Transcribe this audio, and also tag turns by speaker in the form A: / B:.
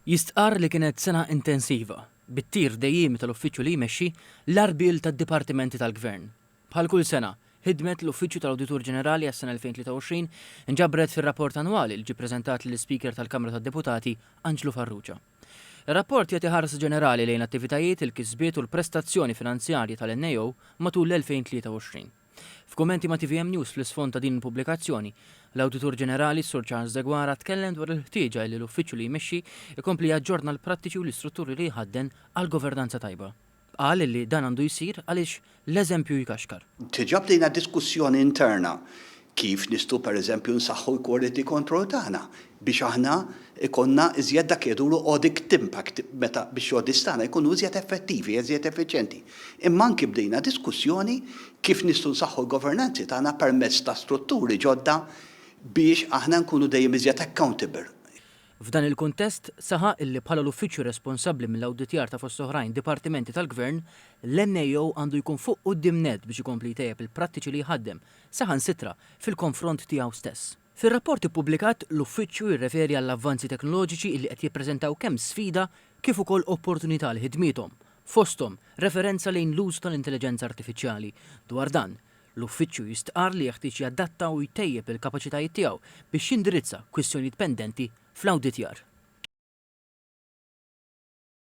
A: Jistqarr li kienet sena intensiva, bit-tir dejjiemi tal-uffiċċju li jmexxi, l-għarbiel tad-dipartimenti tal-Gvern. Bħal kull sena, ħidmet l-Uffiċċju tal-Awditur Ġenerali għas-sena 2023 nġabret fir-rapport annwali li ġie ppreżentat lill-Ispeaker tal-Kamra tad-Deputati, Anġlu Farrugia. Ir-rapport jagħti ħarsa ġenerali lejn l-attivitajiet, il-kisbiet u l-prestazzjoni finanzjarji tal-NAO matul l-2023. F'kummenti ma' tvm News fl-isfond ta' din il-pubblikazzjoni, l-Awditur Ġenerali, Sur Charles Deguara, tkellem dwar il-ħtieġa illi l-Uffiċċju li jmexxi jkompli jaġġorna l-prattiċi u l-istrutturi li jħadden għal governanza tajba. Qal illi dan għandu jsir għaliex l-eżempju jkaxkar. Diġà bdejna
B: diskussjoni interna kif nistgħu pereżempju nsaħħu l-quality control tagħna, biex aħna jkollna iżjed dak li jgħidulu audit impact meta biex l-audits tagħna jkunu iżjed effettivi, iżjed effiċjenti. Imma anki bdejna diskussjoni kif nistgħu nsaħħu l-governanzi tagħna permezz ta' strutturi ġodda biex aħna nkunu dejjem iżjed accountable. F'dan
A: il-kuntest, saħaq illi bħala l-uffiċċju responsabbli mill-awditjar ta' fost oħrajn dipartimenti tal-Gvern, l-NAO għandu jkun fuq quddiem nett biex ikompli jtejjeb il-prattiċi li jħaddem, saħansitra, fil-konfront tiegħu stess. Fir-rapport ippubblikat, l-Uffiċċju jirreferi għall-avvanzi teknoloġiċi illi qed jippreżentaw kemm sfida kif ukoll opportunità għal ħidmiethom, fosthom referenza lejn l-użu tal-intelliġenza artifiċjali. Dwar dan, l-Uffiċċju jistqarr li jeħtieġ jadatta u jtejjeb il-kapaċitajiet tiegħu biex jindirizza kwistjonijiet pendenti fl-awditjar.